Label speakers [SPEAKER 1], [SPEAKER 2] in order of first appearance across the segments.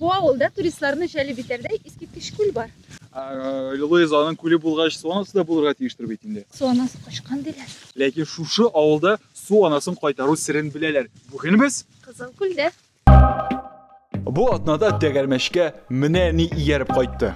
[SPEAKER 1] Бу авылда туристларны җәлеп итәрдәй искиткеч күл бар. Лилоез
[SPEAKER 2] аның күле булгач, су анасы да булырга тиештер бит инде. Су анасы качкан
[SPEAKER 1] диләр. Ләкин шушы
[SPEAKER 2] авылда су анасын кайтару серен беләләр. Бүген без Кызыл күлдә. Бу атнада тәгәрмәчкә менә ни ияреп кайтты.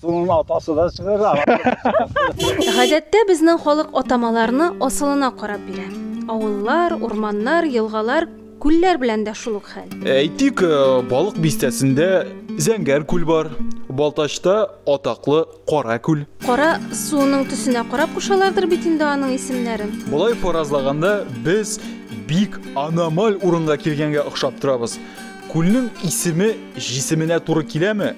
[SPEAKER 2] Суның
[SPEAKER 3] атасы да чыгыр.
[SPEAKER 1] Гадәттә безнең халык атамаларны асылына карап бирә. Авыллар, урманнар, елгалар, күлләр белән дә шул ук хәл. Әйтик, э,
[SPEAKER 2] Балык бистәсендә Зәңгәр күл бар, Балтачта атаклы Кара күл. Кара суының
[SPEAKER 1] төсенә карап кушалардыр бит инде аның исемнәрен. Болай фаразлаганда,
[SPEAKER 2] без бик аномаль урынга килгәнгә охшап торабыз. Күлнең исеме җисеменә туры киләме?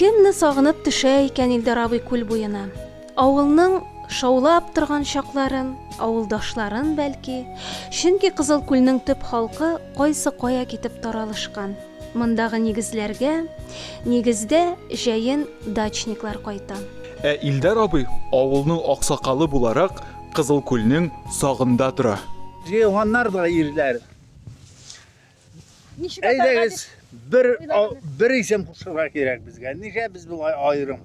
[SPEAKER 1] Кемне сагынып төшә икән Илдар абый күл буена? Авылның шаулап торган чакларын, авылдашларын бәлки, чөнки Кызыл күлнең төп халкы кайсы кая китеп таралышкан. Мондагы нигезләргә, нигездә, җәен дачниклар кайта. Ә Илдар абый,
[SPEAKER 2] авылның аксакалы буларак, Кызыл күлнең сагында тора. Җыелганнар да
[SPEAKER 3] ирләр. Әйдәгез, бер, бер исем кушырга кирәк безгә. Нигә без болай аерым?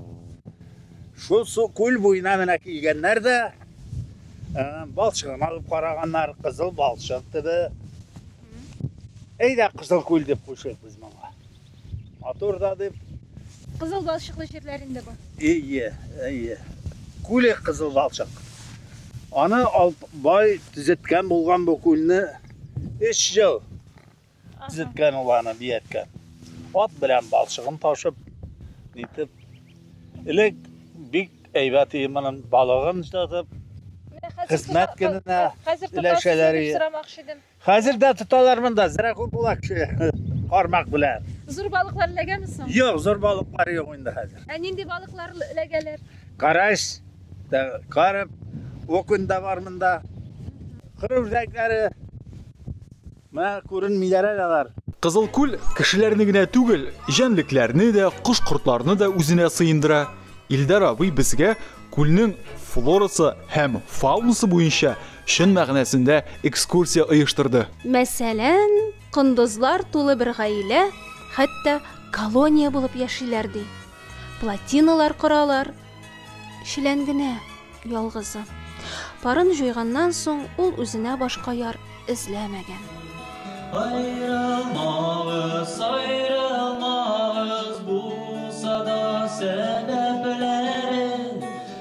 [SPEAKER 3] Шул су күл буена менә килгәннәр дә ә, балчыгын алып караганнар, кызыл балчык диде. Әйдә, кызыл күл дип кушыйк без моңа. Матур да дип. Кызыл
[SPEAKER 1] балчыклы җирләрендә бар. Әйе, әйе.
[SPEAKER 3] Күле кызыл балчык. Аны Алтбай төзеткән булган бу күлне 3 ел төзеткән ул аны бияткән. Ат белән балчыгын ташып, нитеп. Элек бик әйбәт иде моның балыгын җылатып, хезмәт көненә өләшәләр иде. Хәзер дә тоталар монда, зря күп була кеше кармак белән. Зур балыклар эләгәме
[SPEAKER 1] соң? Юк, зур балыклар
[SPEAKER 3] юк инде хәзер. Ә нинди балыклар
[SPEAKER 1] эләгәләр? Карась,
[SPEAKER 3] карп, окунь да бар монда. Кыру үзәкләре. Менә күренмиләр әле алар. Кызыл күл
[SPEAKER 2] кешеләрне генә түгел, җәнлекләрне дә, кош-кортларны да үзенә сыендыра. Илдар абый безгә күлнең флорасы һәм фаунасы буенча Чын мәгънәсендә экскурсия оештырды. Мәсәлән,
[SPEAKER 1] кондызлар тулы бер гаилә, хәтта колония булып яшиләр, ди. Плотиналар коралар. Челән генә, ялгызы. Парын җуйганнан соң, ул үзенә башка яр эзләмәгән. Аерылмагыз,
[SPEAKER 4] аерылмагыз, булса да сәбәпләре.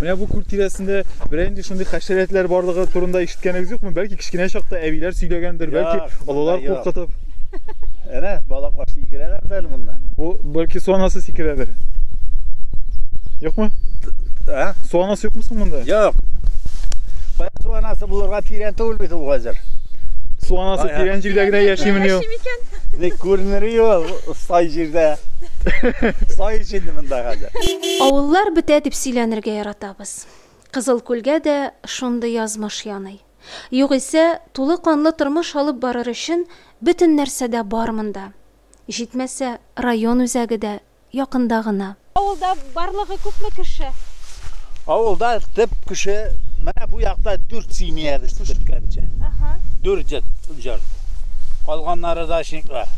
[SPEAKER 2] Менә бу күл тирәсендә берәр нинди шундый хәшәрәтләр барлыгы турында ишеткәнегез юкмы? Бәлки кечкенә чакта әбиләр сөйләгәндер, бәлки олылар куркытып. Әнә
[SPEAKER 3] балаклар сикерәләр дә монда. Бу бәлки су
[SPEAKER 2] анасы сикерәдер. Юкмы? Ә? Су анасы юкмы соң монда? Юк.
[SPEAKER 3] Кая су анасы булырга тирән түгел бит ул хәзер. Су анасы
[SPEAKER 2] тирән җирдә генә яшиме ни ул? Ник күренер
[SPEAKER 3] ул сай җирдә?
[SPEAKER 1] Сай
[SPEAKER 3] җирдә монда
[SPEAKER 1] хәзер. Авыллар бетә
[SPEAKER 3] дип
[SPEAKER 1] сөйләнергә
[SPEAKER 3] яратабыз.
[SPEAKER 1] Кызыл Күлгә дә шундый язмыш яный. Югыйсә, тулы канлы тормыш алып барыр өчен бөтен нәрсә дә бар монда. Җитмәсә, район үзәге дә якында гына. Авылда барлыгы күпме кеше? Авылда
[SPEAKER 3] төп кеше менә бу якта дүрт семьябез төзеткәнче. Әһә. Дүрт җорт. Калганнары дачниклар.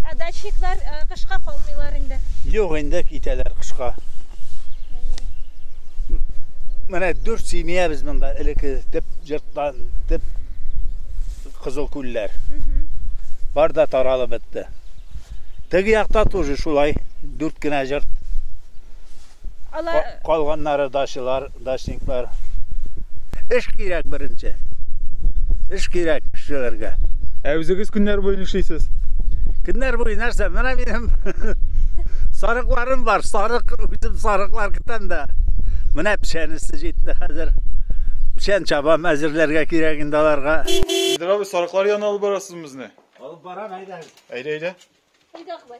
[SPEAKER 3] Ә дачниклар
[SPEAKER 1] кышка калмыйлар инде. Юк инде китәләр
[SPEAKER 3] кышка. Менә дүрт семья без монда элекке теп җырттан теп кызыл күлләр. Бар да таралып бетте. Теге якта тоже шулай дүрт кенә җырт. Алар калганнары дачылар дачниклар. Эш кирәк беренче. Эш кирәк эшчеләргә. Ә үзегез
[SPEAKER 2] көннәр буе нишлисез? Көннәр
[SPEAKER 3] буе нәрсә? Менә минем сарыкларым бар. Сарык үзем сарыклар көтәм дә. Менә печәнесе җитте хәзер. Печән чабам әзерләргә кирәк инде аларга. Сидер абый,
[SPEAKER 2] сарыклар янына алып барасыз безне? Алып барам, әйдә.
[SPEAKER 3] Әйдә, әйдә.
[SPEAKER 2] Әйдә, Акбай.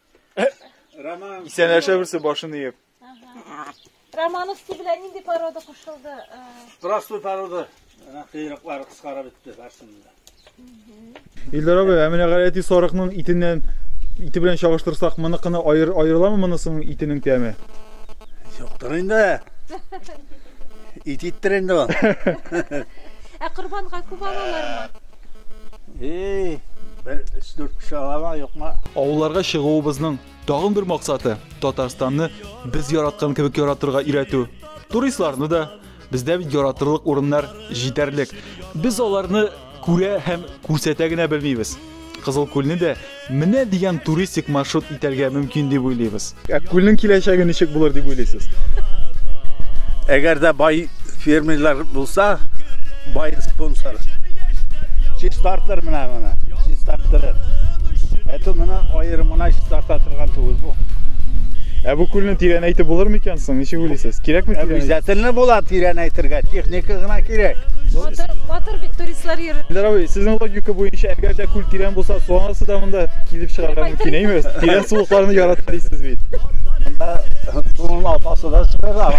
[SPEAKER 2] Роман. Исәнләшә берсе башын иеп.
[SPEAKER 1] Романовский белән нинди порода кушылды? Простой
[SPEAKER 3] порода. Кыйрыклары кыскара бетте барсында.
[SPEAKER 2] Илдар абый, ә менә галәти сарыкның итеннән ите белән чагыштырсак, моныкыны аер, аерыламы монысының итенең тәме? Юктыр
[SPEAKER 3] инде. Ит иттер инде ул. Ә корбанга
[SPEAKER 1] күп алалармы? Эй,
[SPEAKER 3] бер өч-дүрт кеше алама, юкма. Авылларга чыгуыбызның
[SPEAKER 2] тагын бер максаты Татарстанны без яраткан кебек яратырга өйрәтү. Туристларны да бездә бит яратырлык урыннар җитәрлек. Без аларны күрә һәм күрсәтә генә белмибез. Кызыл күлне дә Менә дигән туристик маршрут итәргә мөмкин дип уйлыйбыз. Ә күлнең киләчәге ничек булыр дип уйлыйсыз?
[SPEAKER 3] Әгәр дә бай фермерлар булса, бай спонсор. Чистартыр менә моны, чистарттырыр. Әтү моны аерымына чистарта торган түгел бу. Ә бу
[SPEAKER 2] күлне тирәнәйтеп булыр микән? Соң ничек уйлыйсыз? Кирәкме кирәк? Обязательно була тирән
[SPEAKER 3] әйтергә, техника гына кирәк. Батыр, батыр
[SPEAKER 1] бит туристлар йөри. Эльдар абый, сезнең логика
[SPEAKER 2] буенча, әгәр дә күл тирән булса, су анасы да монда килеп чыгарга мөмкин әйме? Тирән сулыкларны ярата дисез бит. Монда
[SPEAKER 3] суның атасы да чыгара.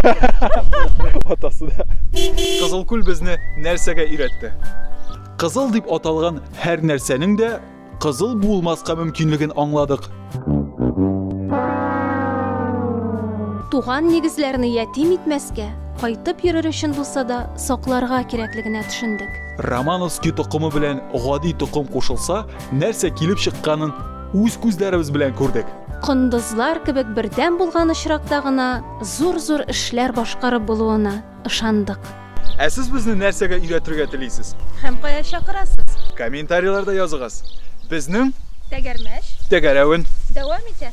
[SPEAKER 2] Атасы да. Кызыл күл безне нәрсәгә өйрәтте? Кызыл дип аталган һәр нәрсәнең дә Кызыл булмаска мөмкинлеген аңладык.
[SPEAKER 1] Туган нигезләрне ятим итмәскә, кайтып йөрер өчен булса да сакларга кирәклегенә төшендек. Романовский
[SPEAKER 2] токымы белән гади токым кушылса, нәрсә килеп чыкканын үз күзләребез белән күрдек. Кондызлар
[SPEAKER 1] кебек бердәм булган очракта гына зур-зур эшләр башкарып булуына, ышандык. Ә сез безне
[SPEAKER 2] нәрсәгә өйрәтергә телисез? Һәм кая
[SPEAKER 1] чакырасыз? Комментарийларда языгыз. Безнең. Тәгәрмәч. Тәгәрәвен.
[SPEAKER 2] Дәвам итә.